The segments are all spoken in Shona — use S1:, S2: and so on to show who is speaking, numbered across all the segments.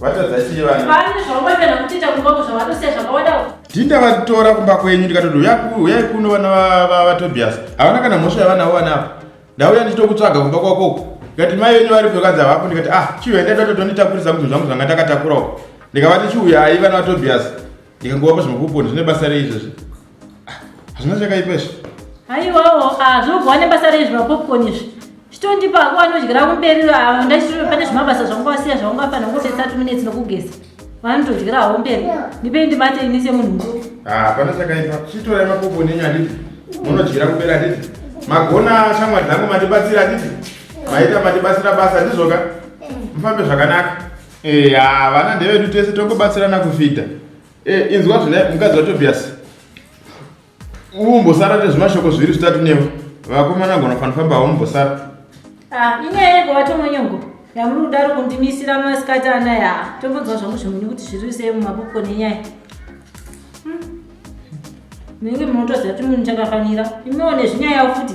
S1: vatadza
S2: chii vana vane zvavamboita nakutiita
S1: kumba ko zvavanosiya zvakawadawo tinda vatora kumba kwenyu ndikatoti uyai kuno vana vatobias havana kana mhosva yavanawo vana ava ndauya ndichitokutsvaga kumba kwako uku ndikati mai venyu varipo vakanzi havapo ndikati ah chiuya ndaida totonditakurisa kuti zvangu zvanga ndakatakurawo ndikavati chiuyai vana vatobias ndikangova pazvimapoponi zvine basa rei izvozvi Ah, hazvina chakaipa izvi haiwawo
S2: zvinobva ne basa rei zvimapopcorn izvi chitondipa hako anodyira kumberi ah, ndachitiro pane zvimabasa zvangu wasiya zvangu afana ngote 30 minutes nokugeza vanotodyira hawo mberi ndipei ndibate ini semunhu mukuru Ah, pana chakaipa
S1: chitorai mapoponi enyu handiti munodyira kumberi handiti magona shamwari dzangu mandibatsira handiti maita mandibatsira basa ndizvoka mufambe zvakanaka Eh, ah, vana ndevedu tese tongobatsirana kufita. Eh, inzwa zvine mukadzi waTobias. Umbosara nezvimashoko zviri zvitatu newe. Vakomana gona fanifamba haumbosara. Ah, inyaya
S2: yego watomonyongo. Yamuri kudaro kundimisira masikati anaya. Tombonzwa zvangu zvimweni kuti zviri sei mumaboko nenyaya. Hmm. Ndinenge munotoziva kuti munhu chakafanira. Imiwo nezvinyaya futi.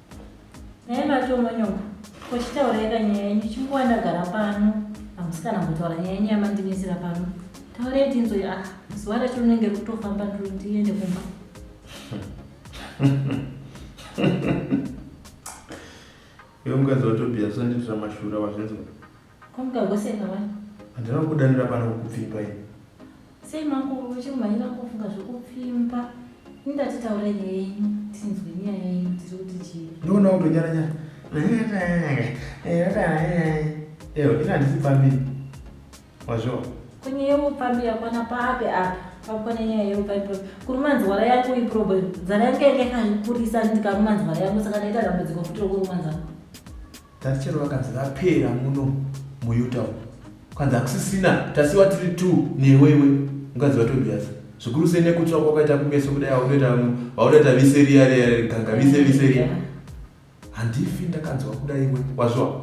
S2: Nhai matomonyoko, ko chitaurai ka nyaya yenyu chinguva ndagara pano hamusi kana kutaura nyaya yenyu yamandimisira pano. Taurai tinzwe ah zuva racho rinenge rikutofamba ndiri ndiende kumba.
S1: Iwe mukadzi waTobias usandiitira mashura wazvinzwa. Ko mukahwa sei
S2: mawani? Handina kukudanira
S1: pano kukupfimba ini. Sei
S2: makuru uchiri kumhanyira kufunga zvekupfimba? Ini ndati taura nyaya yenyu tinzwe nyaya yenyu tiri kuti chii? Ndoona kutonyara
S1: nyara. Eyo ini handisi pfambi. Wazviwa. Ko nyaya
S2: yeupfambi yakwana papi apa? Pakwana nyaya yeupfambi papi? Kuruma nzwara yako iproblem. Nzara yangu yanga yakakurisa ndikaruma nzwara yangu saka ndaita dambudziko futi rokuruma nzara. Tati chero
S1: vakanzi vapera muno muUtah umu. Kwanzi hakusisina tasiwa tiri two newe iwe mukadzi waTobias. Zvikuru sei nekutsva kwakaita kumeso kudai wakutoita wakutoita vise riya riya riganga vise vise riya. Handifi ndakanzwa kuda iwe wazviwa.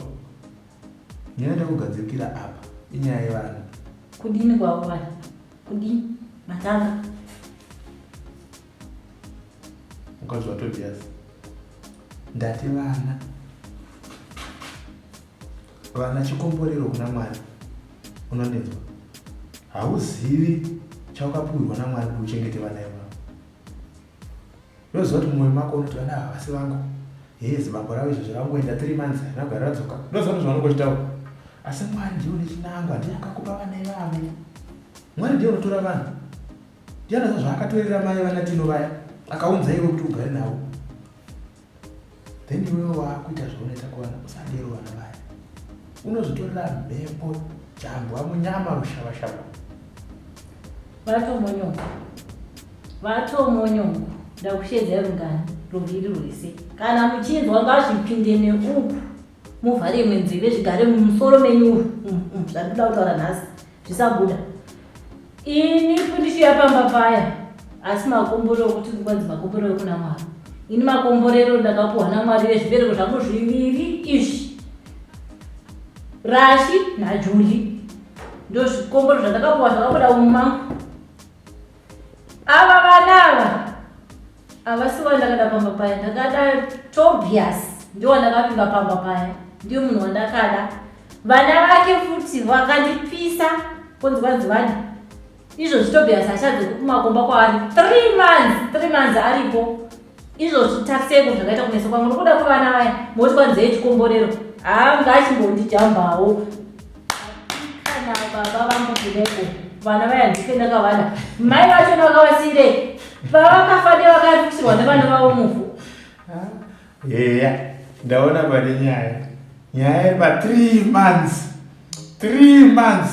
S1: Nyaya ndakugadzirikira apa inyaya yevana. Kudini
S2: kwakuwana? Kudini? Matanga.
S1: ukanzwa tobias ndati vana vana chikomborero kuna mwari unondinzwa hauzivi chaukapuhirwa namwari kuti uchengete vana ivavo ndoziva kuti mumwe mako unoti vana ava vasi vangu hee zibambo ravo izvo zvakangoenda three months anogara radzoka ndoziva kuti zvavanongochitaura asi mwari ndiwo nechinangwa ndiye akakupa vana ivavo mwari ndiye unotora vanhu Diana saka zvaakatorera mai vana Tino vaya akaunza iwe kuti ugare navo then iwewe waakuita zvaunoita kuvana usadero vana vaya unozotorera mhepo jambwa munyama rushavashava vatomonyoka
S2: vatomonyoka ndakushedzai rungano ruviri rwese kana muchinzwa ngazvipinde neuku muvhare imwe nzeve zvigare mumusoro menyu umu mm, mm, zvandoda kutaura nhasi zvisabuda ini fundichiya pamba paya asi makomborero okuti kwanzi makomborero kuna mwari ini makomborero ndakapuhwa namwari vezvibereko zvangu zviviri izvi rashi najuli ndozvikomboro zvandakapuhwa zvakabuda mumangu Ava vana ava havasi vandakada pamba paya, ndakada Tobias ndiwo ndakavimba pamba paya, ndiyo munhu wandakada. Vana vake futi vakandipisa kunzi vanzi vani izvozvi Tobias achadze kumakomba kwaari three months, three months aripo izvozvi taseko zvakaita kunetsa kwamwe nokuda kwevana vaya moti kwanzee chikomborero haa ngachimbondijambawo kana baba vangu kuneko vana vaya ndife ndakavana mai vacho ndakavasiirei vavakafa ndevakaripisirwa nevana vavo muvhu
S1: heya ndaona pane nyaya nyaya yema three months three months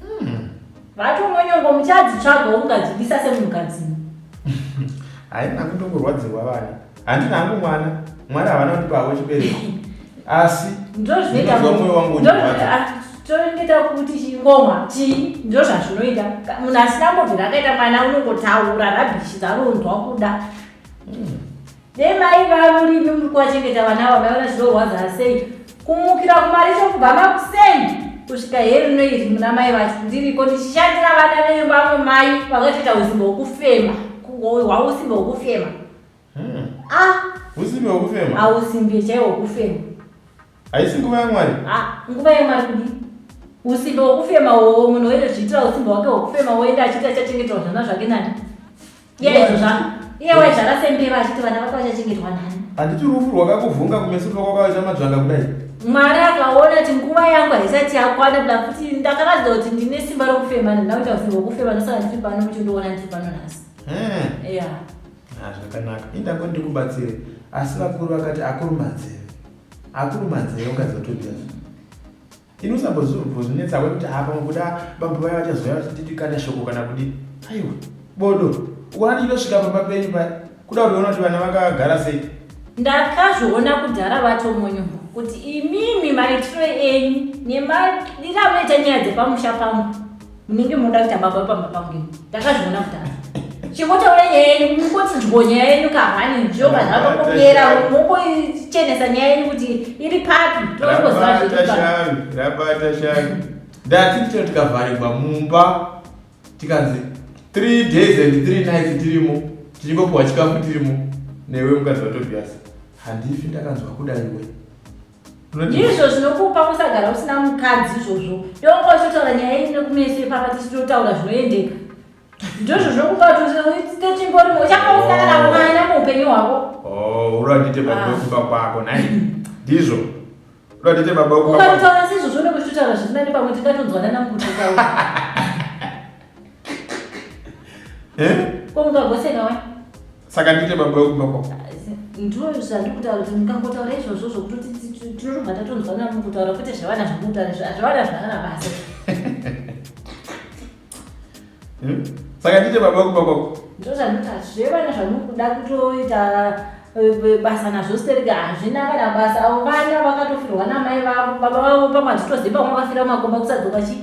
S2: Hmm. Vato monyongo muchadzi tsvaga ungadzibisa semunhukadzi.
S1: Haina kutongorwadzirwa vana. Handina hangu mwana. Mwana havana kuti pavo chibereko. Asi ndozvinoita
S2: moyo wangu uchirwadza.
S1: Toita
S2: kuti chingoma chii ndozvazvinoita munhu asina mbobvira akaita mwana unongotaura rabishi dzaronzwa kuda. Hmm. Dai maiva muri imi muri kuvachengeta vana ava maiona zvinorwadza sei kumukira kumaricho kubva makuseni kusvika here rino iri muna mai vacho ndiriko ndichishandira vana venyu vamwe mai vakatoita usimba hwokufema hwausimba hwokufema hmm. a ah.
S1: usimbi hwokufema hausimbi chaiwo
S2: hwokufema Haisi
S1: nguva yaMwari. Ah, nguva yaMwari
S2: kudi. Usimbe wokufema wowo munhu oenda zviitira usimbe wake wokufema woenda achiti achachengetwa zvana zvake nani? Iye izvo zvana. Iye waizvara sembeva achiti vana vake vachachengetwa nani? Handiti rufu rwakakuvhunga
S1: kumeso kuva kwakaita madzvanga kudai? Mwari akaona
S2: kuti nguva yangu haisati yakwana kuda kuti ndakaratidza kuti ndine simba rokufema ndauita usimbe wokufema ndosaka ndiri pano muchindiona ndiri pano nhasi. Eh. Yeah. Ah,
S1: zvakanaka. Indango ndikubatsire. Asi vakuru vakati akuru manzeve. akuru manzee ungazotodazvo ini usambozvozvinetsa wekuti haa pamwe kuda bambo vaya vachazouya vachititi kana shoko kana kudii aiwa bodo ukona ndichinotosvika pamba penyu paya kuda kutoona kuti vana vakagara sei ndakazviona
S2: kudhara vatomonyombo kuti imimi maitiro enyu nemadira anoita nyaya dzepamusha pangu munenge munoda kuita baba pamba pangu ini ndakazviona kudhara chingotaura nyaya yenyu mungotsinzwo nyaya yenyu kahwani njoka zvakakopera mungochenesa nyaya yenyu kuti iri papi toongoziva zviri rabata
S1: shanu ndati tino tikavharirwa mumba tikanzi three days and three nights tirimo tichingopiwa chikafu tirimo newe mukadzi vatobiyasi handifi ndakanzwa kuda iwe ndizvo
S2: zvinokupa kusagara usina mukadzi izvozvo yoko ichotaura nyaya ine kumeso ipapa tichitotaura zvinoendeka ndizvo zvinokupa tochimborimo uchakausangana oh. mwana muupenyu hwako oh, uratite baba ah.
S1: wekuba kwako nai ndizvo uratite baba wekubaukataura sizvo zvone
S2: kuchitotaura zvisina nepamwe tingatonzwanana mukutitaura eh? komukagoseka wani saka ndiite
S1: baba wekumba kwako ndiro
S2: zvandikutaura kuti mukangotaura izvozvo zvokuti tinotobva tatonzwanana mukutaura kwete zvavana zvamutaura zvavana zvaana basa hmm?
S1: saka ndiite baba wekumba kwako ndiro zvandikutaura
S2: zvevana zvamukuda kutoita basa nazvo sterika hazvina kana basa avo vana vakatofirwa namai vavo baba vavo pamwe hazvitoziva vamwe vakafira makomba kusadzoka chii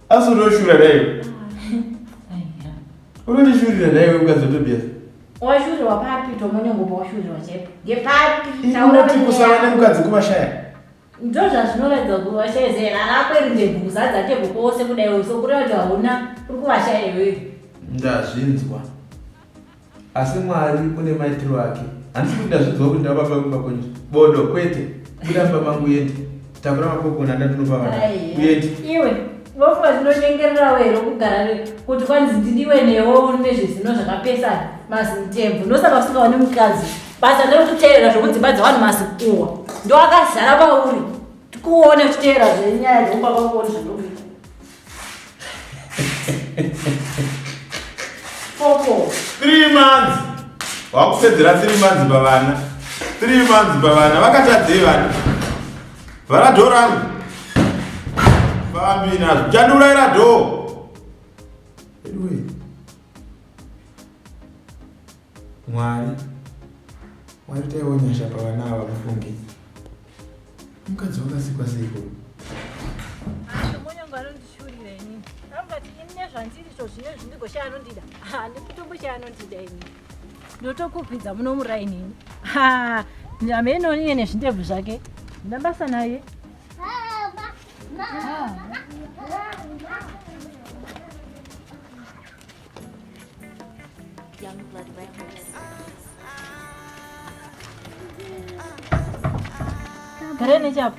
S2: Asi
S1: unoshura daiwe. Unondishurira daiwe ukadzi Tobias. Washurirwa
S2: papi tomonengo pawashurirwa chaipo. Ngepapi? Unoti kusava
S1: nemukadzi kuvashaya. Ndo
S2: zvazvinoratidza kuti vashaya zera rako iri ndebhuza dzake kukose kudaiwe sokureva kuti hauna uri kuvashaya iwewe. Ndazvinzwa.
S1: Asi Mwari une maitiro ake. Handisi kuti ndazvidzwa kuti ndava baba vemumba kwenyu. Bodo, kwete. Buda mumba mangu uende. Takura mapopcorn anda ndinopa vana. Uende. Iwe,
S2: vofa zinonyengererawo here kugara ne kuti kwanzi ndidiwe newo uri nezvezino zvakapesana mazintembo ndosaka usingaoni mukadzi basa ndekuteerera zvekudzimba dzevanhu masikuwa ndoakazara pauri tikuone uchiteerera zvenyaya dzekubaba kuoni zvanoita
S1: Four, three months. Wakusedzera three months bavana. Three months bavana. Vakatadzei vana. Vana door rangu. Bambi nazvo. Chandiuraira door. Anyway. Mwari waitaiwo nyasha pavana ava mufunge mukadzi wakasikwa seiko nezvandiricho zvine
S2: zvindigoshaya anondida handikutomboshaya anondida ini ndotokukwidza muno murainini nyama inoniye nezvindebvu zvake ndina basa naye Gareni chapo.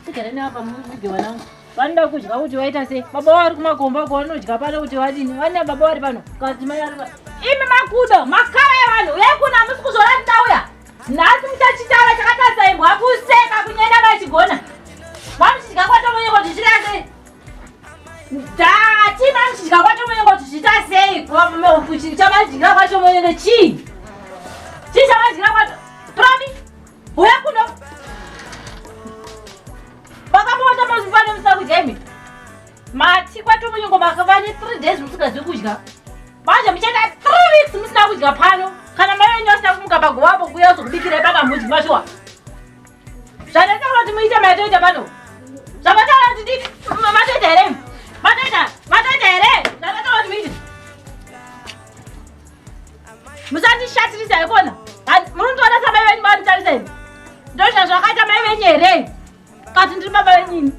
S2: Sigareni apa mudye wanangu. Vanoda kudya kuti waita sei? Baba wari kumakomba ko vanodya pano kuti vadini? Vane baba wari pano. Kazi mai ari pano. Imi makudo, makara evanhu, uyai kuno hamusi kuzora ndauya. Nhasi muchachitaura chakatadza imbwa kuseka kunyenda vachigona. Vamuchidya kwatomonyeko zvichirasei? ndatimamchidya kwacho mwenye kuti zviita sei chamajira kwacho mwenye nechii chii chamajira kwacho promi huya kuno vakamuona mazuvano musakujemi mati kwacho mwenye ngo makavane three days musikazi kudya manje muchaita three weeks musina kudya pano kana mai venyu vasina kumuka pagovapo kuya zokubikira ipakamudyi mashuwa Zvandataura kuti muite matoita pano. Zvamataura kuti nditi matoita here? Matoita, matoita here? Zvandataura kuti muite. Musandishatirisa ikona. Munotoona samai venyu vanotarisa ini. Ndozva zvakaita mai venyu here? Kati ndiri baba venyini.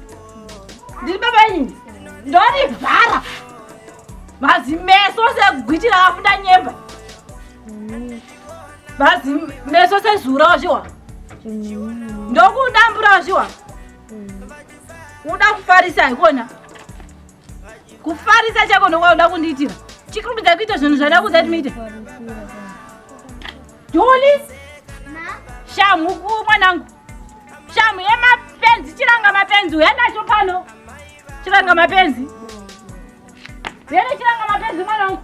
S2: Ndiri baba venyini. Ndori vhara. Mazimeso segwiti rakafunda nyemba. bhazi meso sezura wazviwa ndokudambura wazviwa uda kufarisa haikona kufarisa chako ndokwauda kundiitira chikurumidza kuita zvinhu zvada kuza kuti muite doli shamu uku mwanangu shamu yemapenzi chiranga mapenzi uya nacho pano chiranga mapenzi vene chiranga mapenzi mwanangu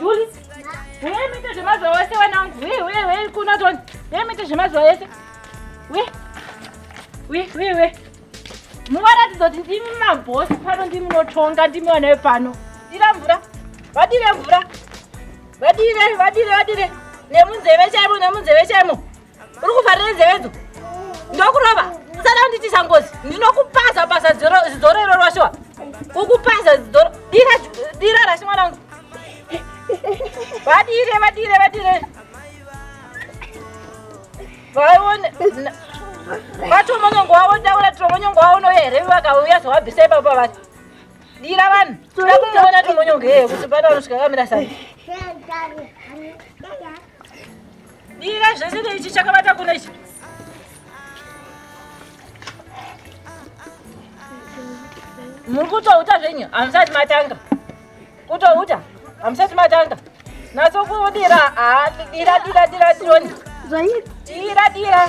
S3: Juli, huye mite zvemazuva wese wena wangu. Huye, huye, huye kuno toni. Huye mite zvemazuva wese. Huye, huye, huye, huye. Muvaratidza kuti ndimi mabhosi pano, ndimi munotonga, ndimi vana vepano. Dira mvura, vadire mvura. Vadire, vadire, vadire. Nemunzeve chaimo, nemunzeve chaimo. uri kuvharira nzeve dzo ndokurova sada unditi changozi ndinokupaza paza zidorero rwashiwa kukupaza zidoro dira rashi mwana wangu vadire vadire vadire vaone vatomonyongo wavo ndaura tomonyongo wavo nouya here vakauya zvawabvisa ipapa vati dira vanhu toda kumuona tomonyongo yeye kuti pana unosvika kamira sani Dira zvese neichi chakabata kuna ichi. Muri kutouta zvenyu hamusati matanga. Kutouta hamusati matanga. Naso kudira haa dira dira dira tironi. Dira dira.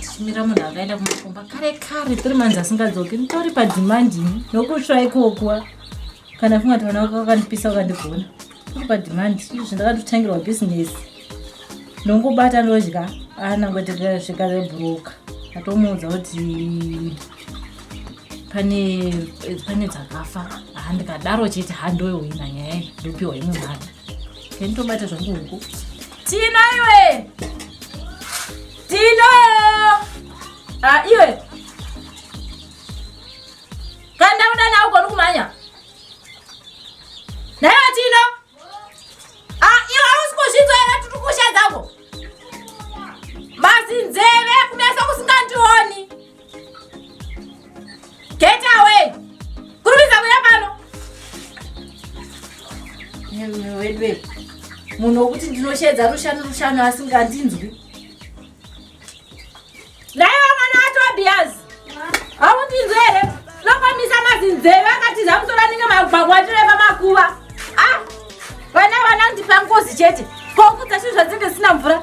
S2: tichimira munhu akaenda kumakomba kare kare tiri manzi asingadzoki nditori padhimandi ini nokutsva ikokwa kana funga tivana vaka vakandipisa ukandigona tori padhimandi izvi ndakatotangirwa bhizinesi ndongobata ndodya anangotekeasvika rebhuroka atomuudza kuti pane pane dzakafa handikadaro chete handoyohina nyaya ndopiwa imwe mhata nditobata zvangu huku Tino iwe. Tino. Ah iwe. Kanda udana uko ndikumanya. Nayo Tino. Ah iwe hausikuzvinzwa ere tutukusha dzako. Basi nzeve kumeso kusingandioni. Get away! Kurumidza kuya pano! Wedwe, munhu wokuti ndinoshedza rushanu rushanu asingandinzwi. Naiva mwana waTobias! Haundinzwe here? Nopamisa mazinzeve akatiza musoro anenge magwagwa atireva makuva. Ah! Vana vana ndipa ngozi chete. Kokudza chinhu zvadzenge zvisina mvura.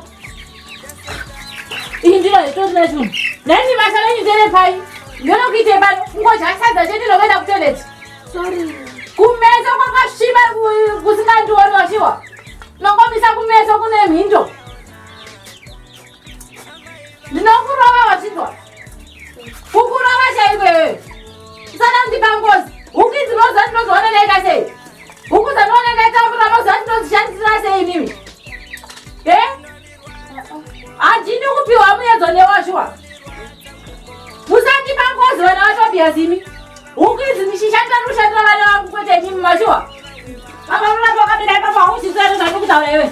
S2: Iyi ndiro itori nezvinhu. Nani basa renyu ndere pai? Ndonokuitei pano? Kungodya sadza chete nokuenda kutoilet. Sorry. Kumeso kwakasviba kusingandioni wachiwa. Nongomisa kumeso kune mhindo. Ndinokurova wachinzwa. Kukurova chaiko iwewe. Usada kundipa ngozi. Huki dzinoziva ndinozoona naika sei? Huku dzanona ndaitambura mazuva ati ndodzishandisira sei imimi? Eh? Handini kupiwa muyedzo newashuwa. Musandipa ngozi vana vatobhiya zimi. Huku idzi ndichishandira ndoshandira vana vangu kwete imimi mashuwa. Apa muna pakabira ipapo hauchizvere zvandikutaura iwe.